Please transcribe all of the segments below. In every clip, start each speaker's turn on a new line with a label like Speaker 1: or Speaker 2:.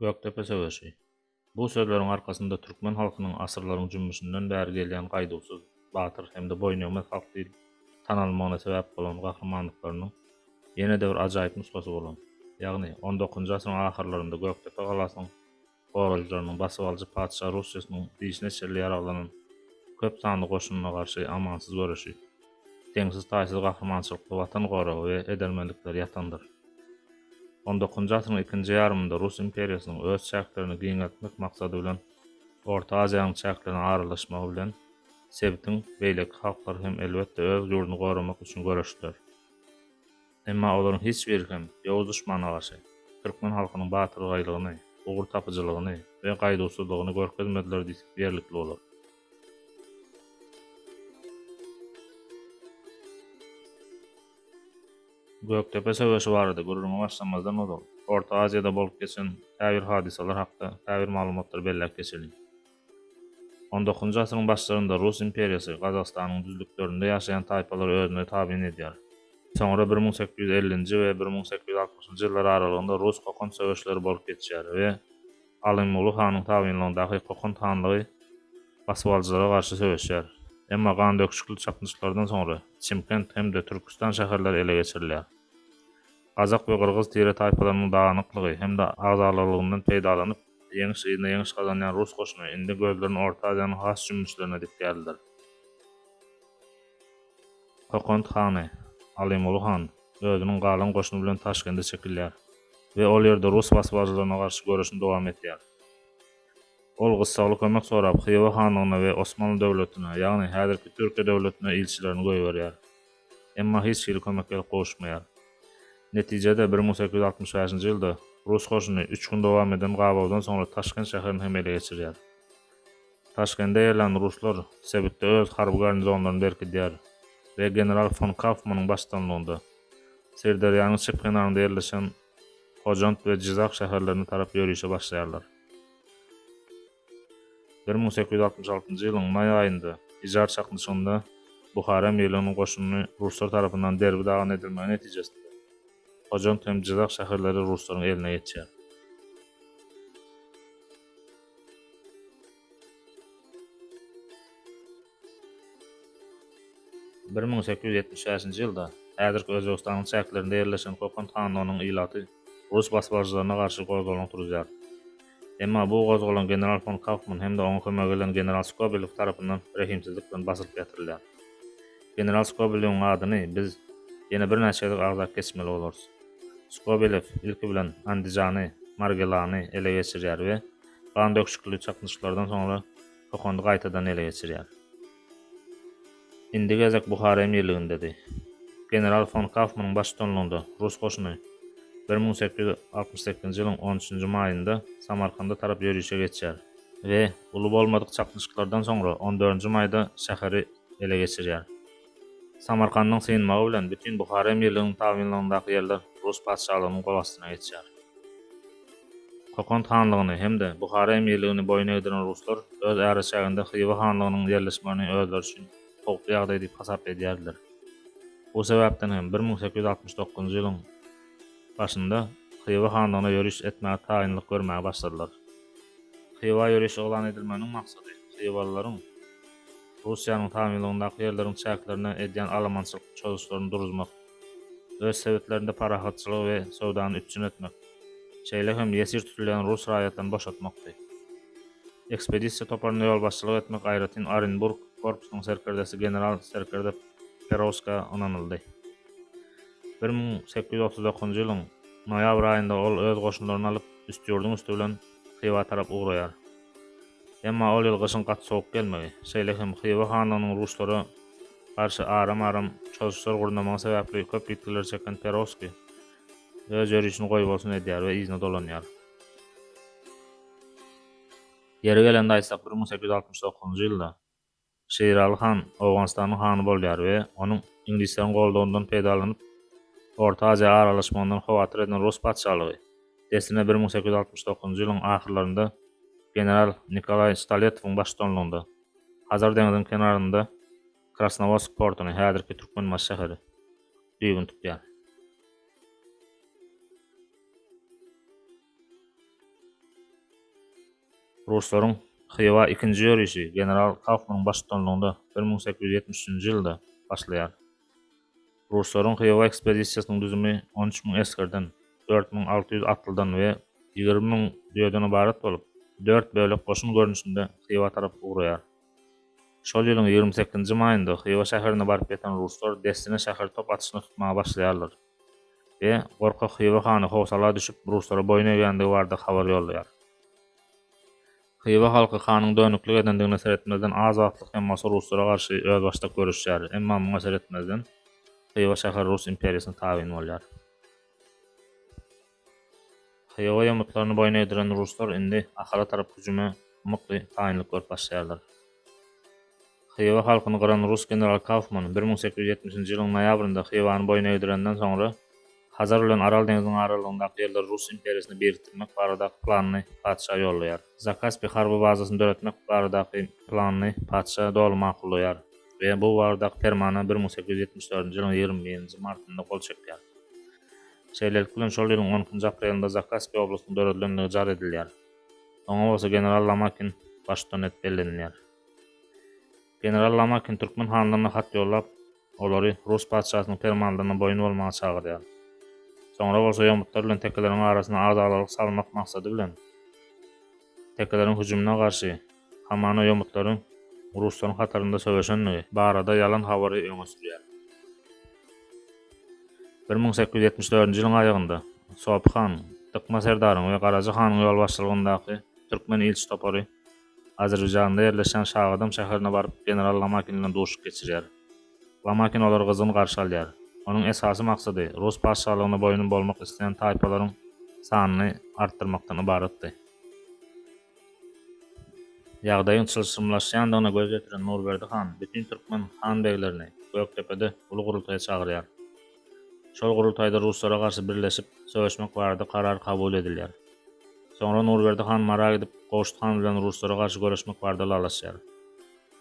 Speaker 1: Gökdepe söweşi. Bu sözleriň arkasynda türkmen halkynyň asyrlaryň jümmüşinden bäri gelýän gaýduwsyz, batyr hem-de boýnegmez halk diýlip tanalmagyna sebäp bolan gahrymanlyklarynyň ýene-de bir ajaýyp nusgasy bolan, ýagny on dokuzynjy asyryň ahyrlarynda Gökdepe galasynyň gorajylarynyň basybalyjy patyşa Rusçesynyň dişine çenli ýaraglanan köp sanly goşunyna garşy amansyz göreşi. deňsiz-taýsyz gahrymançylykly Watan goragy we edermenlikleri ýatandyr. On dokuzynjy asyryň ikinji ýarymynda Rus imperiýasynyň öz çäklerini giňeltmek maksady bilen Orta Aziýanyň çäklerine aralaşmagy bilen, sebitiň beýleki halklary hem elbetde öz ýurduny goramak üçin göreşdiler. Emma olaryň hiç biri hem ýowuz duşmana garşy türkmen halkynyň batyrgaýlygyny, ugurtapyjylygyny we gaýduwsyzlygyny görkezmediler diýsek ýerlikli bolar. Gökdepe söweşi barada gürrüňe başlamazdan ozal, Orta Aziýada bolup geçen käbir hadysalar hakda käbir maglumatlary belläp geçeliň. On dokuzynjy asyryň başlarynda Rus imperiýasy Gazagystanyň düzlüklerinde ýaşaýan taýpalary özüne tabyn edýär. Soňra bir müň sekiz ýüz ellinji we bir müň sekiz ýüz altmyşynjy ýyllar aralygynda rus-kokant söweşleri bolup geçýär we Alymguly hanyň tabynlygyndaky Kokant hanlygy basybalyjylara garşy söweşýär. Emma gandöküşikli çaknyşyklardan soňra Çimkent hem-de Türküstan şäherleri ele geçirilýär. Gazak we gyrgyz tire-taýpalarynyň dagynyklygy hem-de agzalylygyndan peýdalanyp, Ýeňiş yzyna ýeňiş gazanýan rus goşuny indi gözlerini Orta Aziýanyň has jümmüşlerine dikýärdiler. Kokant hany, Alymuly han, özüniň galan goşuny bilen Taşkende çekilýär we ol ýerde rus basybalyjylaryna garşy göreşini dowam etýär. Ol gyssagly kömek sorap, Hywa hanlygyna we Osmanly döwletine, ýagny häzirki Türkiýe döwletine ilçilerini goýberýär. emma hiç hili kömek gelip gowuşmaýar. Netijede, bir müň sekiz ýüz altmyş bäşinji ýylda rus goşuny üç gün dowam eden gabawdan soňra Taşkent şäherini hem ele geçirýär. Taşkende ýerlän ruslar sebitde öz harby garnizonlaryny berkidýär we general fon Kafmanyň baştutanlygynda Syrderýanyň çep kenarynda ýerleşen Hojant we Jizak şäherlerine tarap ýörişe başlaýarlar. Bir müň sekiz ýüz altmyş altynjy ýylyň maý aýynda Ijar çaknyşygynda Buhara emirliginiň goşunyny ruslar tarapyndan derbi-dagyn edilmegi netijesinde, Hojant hem Jyzak şäherleri ruslaryň eline geçýär. Bir müň sekiz ýüz ýetmiş bäşinji ýylda häzirki Özbegistanyň çäklerinde ýerleşen Kokand hanlygynyň ilaty rus basbaljylaryna garşy gozgalaň turuzýar. Emma bu gozgalaň general fon Kaufman hem-de oňa kömek eden general Skobelew tarapyndan rehimsizlik bilen basylyp ýatyrylar. General Skobelewiň adyny biz ýene birnäçe gezek agzap geçmeli bolarys. Skobelew, ilki bilen, Andijany, Margilany ele geçirýär we gandöküşikli çaknyşyklardan soňra Hokondy gaýtadan ele geçirýär. Indiki gezek Buhara emirligindedi. General fon Kaufmanyň baştutanlygynda rus goşuny bir müň sekiz ýüz altmyş sekizinji ýylyň on üçünji maýynda Samarkanda tarap ýörişe geçýär we uly bolmadyk çaknyşyklardan soňra on dördünji maýda şäheri ele geçirýär. Samarkandyň synmagy bilen bütin Buhara emirliginiň tabynlygyndaky ýerler rus patyşalygynyň gol astyna geçýär. Kokant hanlygyny hem-de Buhara emirligini boýun egdiren ruslar öz äreçäginde Hywa hanlygynyň ýerleşmegini özleri üçin howply ýagdaý diýip hasap edýärdiler. Bu sebäpden hem bir müň sekiz ýüz altmyş dokuzynjy ýylyň başynda Hywa hanlygyna ýöriş etmäge taýynlyk görmäge başladylar. Hywa ýöriş yglan edilmeginiň maksady hywalylaryň, Russiýanyň tabynlygyndaky ýerleriň çäklerine edýän alamançylyk çozuşlaryny duruzmak, öz sebitlerinde parahatçylygy we söwdany üpjün etmek, şeýle hem ýesir tutulýan rus raýatlaryny boşatmakdy. Ekspedisiýa toparyna ýolbaşçylyk etmek aýratyn Orenburg korpusynyň serkerdesi general serkerde Perowska ynanyldy. Bir müň sekiz ýüz otuz dokuzynjy ýylyň noýabr aýynda ol öz goşunlaryny alyp, Üstýurduň üsti bilen Hywa tarap ugraýar. Emma ol ýyl gyşyň gaty sowuk gelmegi, şeýle hem Hywa hanlygynyň ruslara garşy aram-aram çozuşlar gurnamagy sebäpli köp ýitgileri çeken Perowskiý öz ýörişini goýbolsun edýär we yzyna dolanýar. Ýeri gelende aýtsak, bir müň sekiz ýüz altmyş dokuzynjy ýylda Şiraly han Owganystanyň hany bolýar we onuň iňlisleriň goldawyndan peýdalanyp, Orta Aziýa aralaşmagyndan howatyr eden rus patyşalygy, dessine bir müň sekiz ýüz altmyş dokuzynjy ýylyň ahyrlarynda general Nikolaý Stoletowyň baştutanlygynda, Hazar deňziniň kenarynda Krasnowodsk portuny, häzirki Türkmenbaşy şäheri, düýbüni tutýar. Ruslaryň Hywa ikinji ýörişi general Kaufmanyň baştutanlygynda bir müň sekiz ýüz ýetmiş üçünji ýylda başlaýar. Ruslaryň Hywa ekspedisiýasynyň düzümi on üç müň esgerden, dört müň alty ýüz atlydan we ýigrimi müň düýeden ybarat bolup, dört bölek goşun görnüşinde Hywa tarap ugraýar. Şol ýylyň ýigrimi sekizinji maýynda Hywa şäherine baryp ýeten ruslar dessine şäher top atyşyna tutmaga başlaýarlar. we gorkak Hywa hany howsala düşüp, ruslara boýun egýändigi barada habar ýollaýar. Hywa halky hanyň dönüklik edendigine seretmezden az wagtlyk hem bolsa ruslara garşy özbaşdak göreşýär, emma muňa seretmezden Hywa şäheri rus imperiýasyna tabyn bolýar. Hywa ýomutlaryny boýun egdiren ruslar indi Ahala tarap hüjüme mukdy taýynlyk görüp başlaýarlar. Hywa halkyny gyran rus general Kaufman bir müň sekiz ýüz ýetmişinji ýylyň noýabrynda Hywany boýun egdirenden soňra, Hazar bilen Aral deňziniň aralygyndaky ýerleri rus imperiýasyna birikdirmek baradaky planyny patyşa ýollaýar. Zakaspi harby bazasyny döretmek baradaky planyny patyşa doly makullaýar we bu baradaky permana bir müň sekiz ýüz ýetmiş dördünji ýylyň ýigrimi birinji martynda gol çekýär. Şeýlelik bilen, şol ýylyň on ikinji aprelinde Zakaspi oblastynyň döredilendigi jar edilýär. Oňa bolsa general Lomakin baştutan edip bellenilýär. General Lomakin türkmen hanlaryna hat ýollap, olary rus patyşasynyň permanlaryna boýun bolmaga çagyrýar. Soňra bolsa ýomutlar bilen tekeleriň arasyna agdaglylyk salmak maksady bilen, Tekeleriň hüjümine garşy hamana ýomutlaryň ruslaryň hatarynda söweşendigi barada ýalan habary öňe sürýär. Bir müň sekiz ýüz ýetmiş dördünji ýylyň aýagynda Sopy han, Dykma serdaryň we Garaja hanyň ýolbaşçylygyndaky türkmen ilçi topary Azerbaýjanda ýerleşýän Şagadam şäherine baryp general Lamakin bilen duşuk geçirýär. Lomakin olary gyzgyn garşy alýar. Onuň esasy maksady rus patyşalygyna boýun bolmak isleýän taýpalaryň sanyny artdyrmakdan ybaratdy. Ýagdaýyň çylşyrymlaşýandygyna göz ýetiren Nurberdi han bütin türkmen han-beglerini Gökdepede uly gurultaýa çagyrýar. Şol gurultaýda ruslara garşy birleşip söweşmek barada karar kabul edilýär. Soňra Nurberdi han Mara gidip, Gowşut han bilen ruslara garşy göreşmek barada ylalaşýar.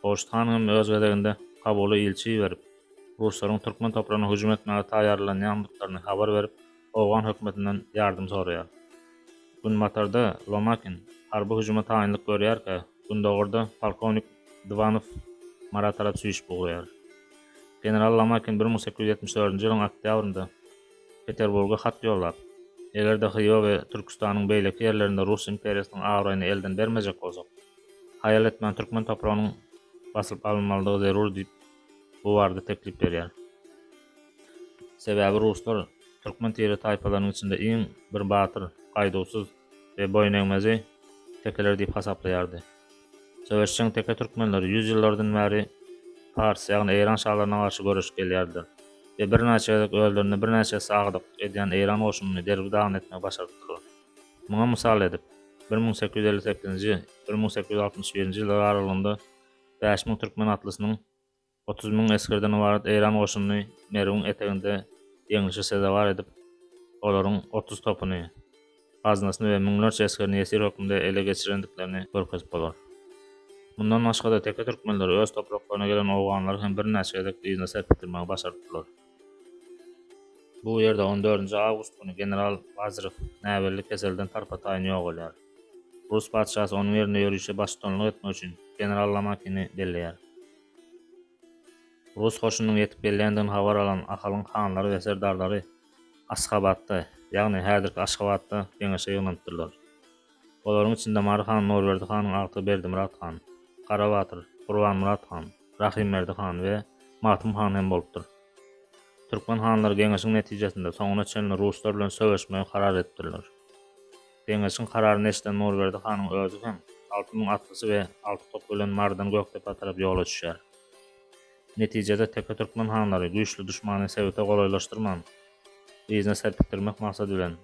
Speaker 1: Horşit han hem öz gezeginde Kabuly ilçi iberip, ruslaryň türkmen topragyna hüjüm etmäge taýýarlanýandyklaryny habar berip, owgan hökümetinden ýardym soraýar. Günbatarda Lomakin harby hüjüme taýynlyk görýärkä, gündogarda polkownik Dwanow Mara tarap süýşüp ugraýar. General Lomakin bir müň sekiz ýüz ýetmiş dördünji ýylyň oktýabrynda Peterburga hat ýollap, Eger-de Hyýa we Türküstanyň beýleki ýerlerinde rus imperiýasynyň abraýyny elden bermejek bolsak, haýal etmän türkmen topragynyň basylyp alynmalydygy zerur diýip, bu barada teklip berýär. Sebäbi ruslar türkmen tire-taýpalarynyň içinde iň bir batyr, gaýduwsyz we boýunegmezi tekeler diýip hasaplaýardy. Söweşjeň teke türkmenleri ýüz ýyllardan bäri pars, ýagny eýran şalaryna garşy göreşip gelýärdiler we birnäçe gezek özlerinde birnäçe esse agdyklyk edýän eýran goşunyny derbi-dagyn etmegi başardylar. Muňa mysal edip, bir müň sekiz ýüz elli sekizinji, bir müň sekiz ýüz altmyş birinji ýyllar aralygynda bäş müň türkmen atlysynyň otuz müň esgerden ybarat eýran goşunyny Merwiň eteginde ýeňlişe sezewar edip, olaryň otuz topuny, gaznasyny we müňlerçe esgerini ýesir hökmünde ele geçirendiklerini görkezip bolar. Mundan başga-da teke türkmenleri öz topraklaryna gelen owganlary hem birnäçe gezek yzyna serpikdirmegi başarypdyrlar. Bu ýerde on dördünji awgust güni general Bazrew näbelli keselden tarpa-taýyn ýogalýar. Rus patyşasy onuň ýerinde ýörişe baştutanlyk etmek üçin general Lomakini belleýär. Rus goşunynyň ýetip gelýändigini habar alan Ahalyň hanlary we serdarlary Asgabatda, ýagny häzirki Aşgabatda geňeşe ýygnanypdyrlar. Olaryň içinde Mary han, Nurberdi hanyň agty Berdimyrat han, Gara batyr, Gurbanmyrat han, Rahymberdi han we Magtym han hem bolupdyr. Türkmen hanlary geňeşiň netijesinde soňuna çenli ruslar bilen söweşmegi karar edipdirler. Geňeşiň kararyny eşiden Nurberdi hanyň özi hem alty müň atlysy we alty topy bilen Marydan Gökdepä tarap ýola düşýär. Netijede teke türkmen hanlary güýçli duşmany sebite golaýlaşdyrman, yzyna serpikdirmek maksady bilen,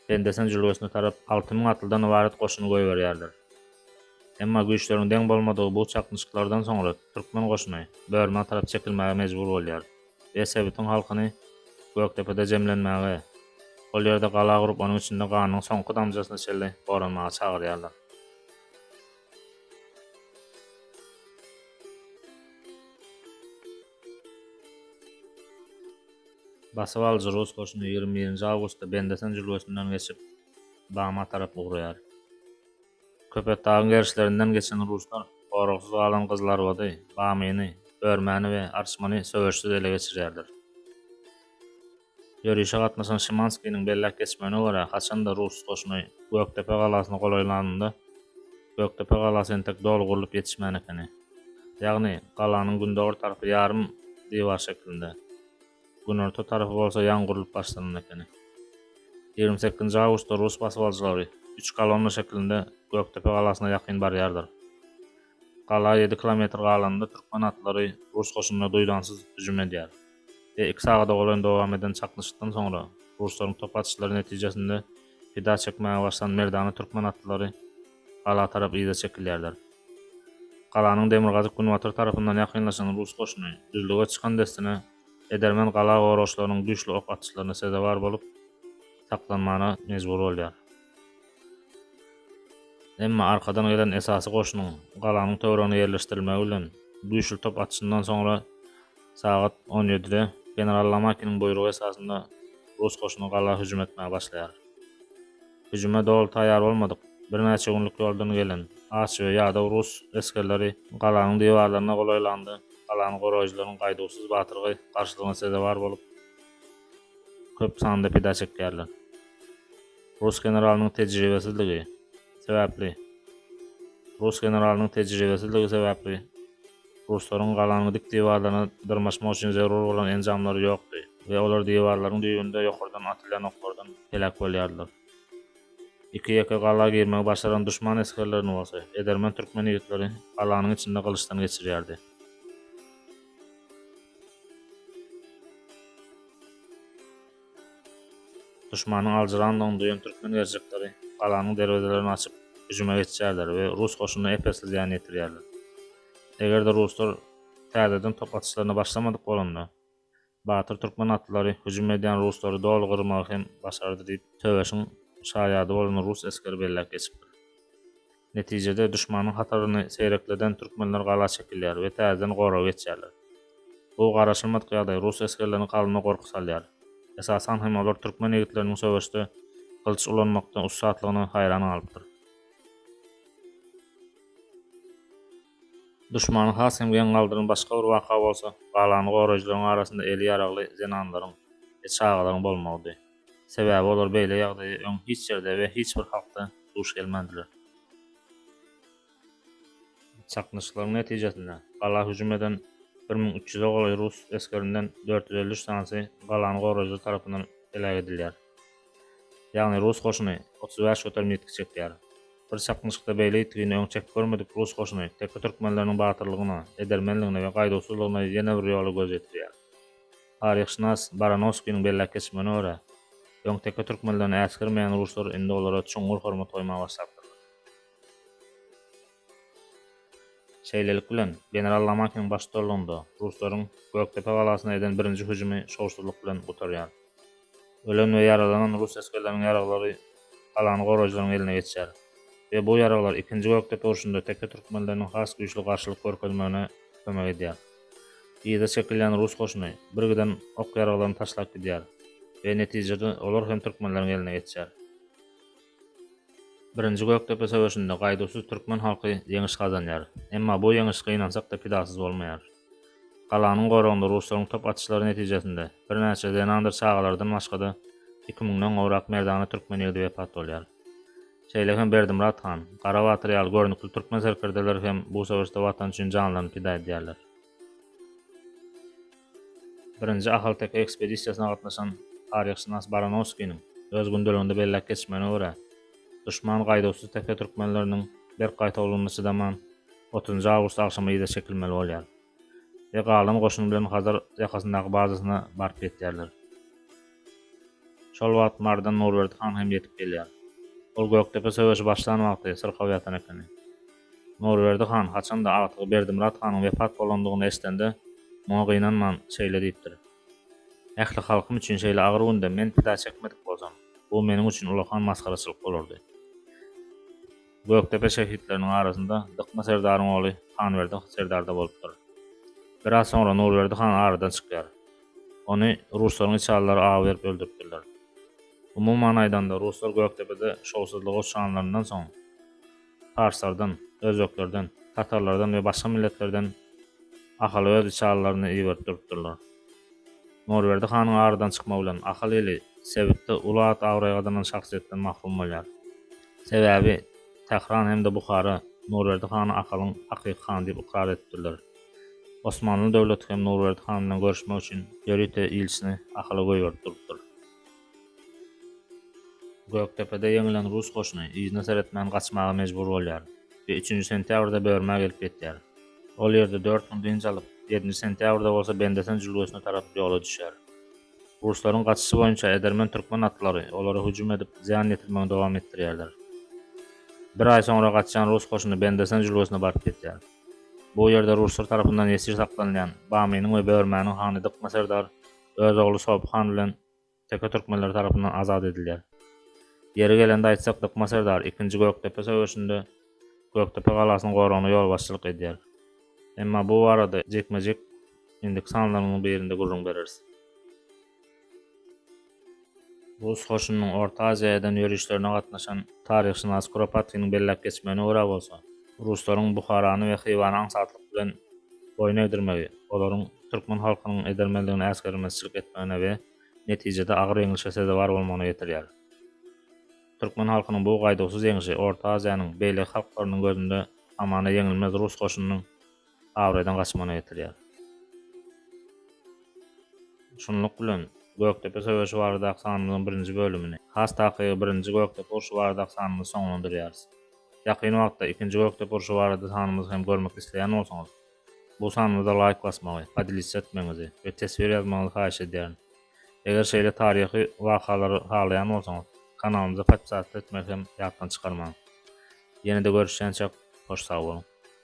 Speaker 1: Bendesini jülgesine tarap alty müň atlydan ybarat goşuny goýberýärler. Emma güýçleriň deň bolmadygy bu çaknyşyklardan soňra türkmen goşuny Börmä tarap çekilmäge mejbur bolýar we sebitiň halkyny Gökdepede jemlenmäge, ol ýerde gala gurup onuň içinde ganyň soňky damjasyna çenli goranmaga çagyrýarlar. Basybalyjy rus goşuny ýigrimi birinji awgustda Bendesen jülgesinden geçip, Bama tarap ugraýar. Köpetdagyň gerişlerinden geçen ruslar goragsyz galan Gyzylarbady, Bamyny, Örmäni we Arçmany söweşsiz ele geçirýärler. Ýörişe gatnaşan Şimanskiniň belläp geçmegine görä, haçan-da rus goşuny Gökdepe galasyna golaýlanynda, Gökdepe galasy entek doly gurlup ýetişmän ekeni. Ýagny, galanyň gündogar tarapy ýarym diwar şeklinde, günorta tarapy bolsa ýaňy gurlup başlanan ekeni. Ýigrimi sekizinji awgustda rus basybalyjylary üç kolonna şeklinde Gökdepe galasyna ýakyn barýardyr. Gala ýedi kilometr galanda türkmen atlary rus goşunyna duýdansyz hüjüm edýär we iki sagada golaýyn dowam eden çaknyşykdan soňra, ruslaryň top atyşlary netijesinde pida çekmäge başlan merdana türkmen atlylary gala tarap yza çekilýärler. Galanyň demirgazyk-günbatar tarapyndan ýakynlaşan rus goşuny düzlüge çykan dessine edermen gala goragçylarynyň güýçli ok atyşlaryna sezewar bolup, saklanmana mejbur bolýar. Emma arkadan gelen esasy goşunyň galanyň töweregine ýerleşdirilmegi bilen güýçli top atyşyndan soňra sagat on ýedide general Lamakiniň buýrugy esasynda rus goşuny gala hüjüm etmäge başlaýar. Hüjüme doly taýýar bolmadyk, birnäçe günlük ýoldan gelen aç we ýadaw rus esgerleri galanyň diwarlaryna golaýlanda, galany goraýjylaryň gaýduwsyz batyrgy garşylygyna sezewar bolup, köp sanda pida çekýärler. Rus generalynyň tejribesizligi sebäpli Rus generalynyň tejribesizligi sebäpli ruslaryň galanyň dik diwarlaryna dyrmaşmak üçin zerur bolan enjamlary ýokdy we olar diwarlaryň düýbünde ýokardan atylýan oklardan heläk bolýardylar. Iki-ýeke gala girmegi başaran duşman esgerlerini bolsa, edermen türkmen ýigitleri galanyň içinde gylyçdan geçirýärdi. Duşmanyň aljyrandygyny duýan türkmen gerçekleri galanyň derwezelerini açyp, hüjüme geçýärler we rus goşunyna ep-esli zyýan ýetirýärler. Eger-de ruslar täzeden top atyşlaryna başlamadyk bolanda, batyr türkmen atlylary hüjüm edýän ruslary doly gyrmagy hem başardy diýip, söweşiň şaýady bolan rus esgeri belläp geçipdir. Netijede, duşmanyň hataryny seýrekleden türkmenler gala çekilýär we täzeden goraga geçýärler. Bu garaşylmadyk ýagdaý rus esgerleriniň kalbyna gorky salýar. Esasan hem olar türkmen ýigitleriniň söweşde gylyç ulanmakda ussatlygyna haýran galypdyr. Duşmany has hem geň galdyran başga bir waka bolsa, galany goraýjylaryň arasynda eli ýaragly zenanlaryň we çagalaryň bolmagydy. Sebäbi olar beýle ýagdaýa öň hiç ýerde we hiç bir halkda duş gelmändiler. Çaknyşyklaryň netijesinde, gala hüjüm eden bir müň üç ýüze golaý rus esgerinden dört ýüz elli üç sanysy galany goraýjylar tarapyndan heläk edilýär. Ýagny rus goşuny otuz bäş göterim ýitgi çekýär. Bir çaknyşykda beýle ýitgini öň çekip görmedik rus goşuny teke türkmenleriniň batyrlygyna, edermenligine we gaýduwsyzlygyna ýene bir ýola göz ýetirýär. Taryhşynas Baranowskiniň belläp geçmegine görä, öňteke türkmenlerini äsgermeýän ruslar indi olara çuňňur hormat goýmaga başlapdyrlar. Şeýlelik bilen, general Lomakiniň baştutarlygynda ruslaryň Gökdepe galasyna eden birinji hüjümi şowsuzlyk bilen gutarýar. Ölen we ýaralanan rus esgerleriniň ýaraglary galan goraýjylaryň eline geçýär we bu ýaraglar Ikinji Gökdepe urşunda teke türkmenleriniň has güýçli garşylyk görkezmegine kömek edýär. Yza çekilýän rus goşuny birgiden ok-ýaraglaryny taşlap gidýär we netijede olar hem türkmenleriň eline geçýär. Birinji Gökdepe söweşinde gaýduwsyz türkmen halky ýeňiş gazanýar. Emma bu ýeňiş gynansak-da pidasyz bolmaýar. Galanyň goragynda ruslaryň top atyşlary netijesinde, birnäçe zenandyr çagalardan başga-da, iki müňden gowrak merdana türkmen ýigidi wepat bolýar. Şeýle hem Berdimyrat han, Gara batyr ýaly görnükli türkmen serkerdeleri hem bu söweşde Watan üçin janlaryny pida edýärler. Birinji Ahalteke ekspedisiýasyna gatnaşan taryhşynas Baranowskiniň öz gündeliginde belläp geçmegine görä, duşman gaýduwsyz tepe türkmenleriniň berk gaýtawulygyna çydaman, otuzynjy awgust agşamy yza çekilmeli bolýar we galan goşun bilen Hazar ýakasyndaky bazasyna baryp ýetýärler. Şol wagt Mardan Nurberdi han hem ýetip gelýär. Ol Gökdepe söweşi başlan wagty syrkaw ýatan ekeni. Nurberdi han haçan-da agtygy Berdimyrat hanyň wepat bolandygyny eşidende, muňa gynanman, şeýle diýipdir, Ähli halkym üçin şeýle agyr günde men pida çekmedik bolsam, bu meniň üçin ulakan masgaraçylyk bolardy. Gökdepe şehitleriniň arasynda Dykma serdaryň ogly Hanberdi serdar-da bolupdyr. Biraz soňra Nurberdi han aradan çykýar. Ony ruslaryň içalylary aw berip öldüripdirler. Umuman aýdanda, ruslar Gökdepede şowsuzlygy uçranlaryndan soň, parslardan, özbeklerden, tatarlardan we başga milletlerden Ahala öz içalylaryny iberip durupdyrlar. Norberdi hanyň aradan çykmagy bilen Ahal ili sebitde uly at-abraý gazanan şahsyýetden mahrum bolýar. Sebäbi Tähran hem-de Buhara Norberdi hany Ahalyň hakyky hany diýip ykrar edipdirler. Osmanly döwleti hem Norberdi han bilen görüşmek üçin ýörite ilçini Ahala goýberip durupdyr. Gökdepede ýeňilen rus goşuny yzyna seretmän gaçmaga mejbur bolýar we üçünji sentýabrda Börmä gelip ýetýär. Ol ýerde dört gün dynç alyp, ýedinji sentýabrda bolsa Bendesen jülgesine tarap ýola düşýär. Ruslaryň gaçyşy boýunça edermen türkmen atlary olara hüjüm edip, zyýan ýetirmegini dowam etdirýärler. Bir aý soňra gaçýan rus goşuny Bendesen jülgesine baryp ýetýär. Bu ýerde ruslar tarapyndan ýesir saklanylýan Bamynyň we Börmäniň hany Dykma serdar öz ogly Sopy han bilen teke türkmenleri tarapyndan azat edilýär. Ýeri gelende aýtsak, Dykma serdar ikinji Gökdepe söweşinde Gökdepe galasynyň goragyna ýolbaşçylyk edýär. Emma bu barada jikme-jik indiki sanlarymyzyň birinde gürrüň bereris. Rus goşunynyň Orta Aziýa eden ýörişlerine gatnaşan taryhşynas Kuropatginiň belläp geçmegine görä bolsa, Ruslaryň Buharany we Hywany aňsatlyk bilen boýun egdirmegi, olaryň türkmen halkynyň edermenligine äsgermezçilik etmegine we netijede agyr ýeňlişe sezewar bolmagyna getirýär. Türkmen halkynyň bu gaýduwsyz ýeňşi Orta Aziýanyň beýleki halklarynyň gözünde hamana ýeňilmez rus goşunynyň, abraýdan gaçmagyna getirýär. Şunluk bilen, Gökdepe söweşi baradaky sanymyzyň birinji bölümini, has takygy birinji Gökdepe urşy baradaky sanymyzy soňlandyrýarys. Ýakyn wagtda ikinji Gökdepe urşy barada sanymyzy hem görmek isleýän bolsaňyz, bu sanymyza laýk basmagy, podelitsa etmegiňizi we teswir ýazmagyňyzy haýyş edýärin. Eger şeýle taryhy wakalary halaýan bolsaňyz, kanalymyza podpisatly etmegi hem ýatdan çykarmaň. Ýene-de görüşýänçäk, hoş sag boluň!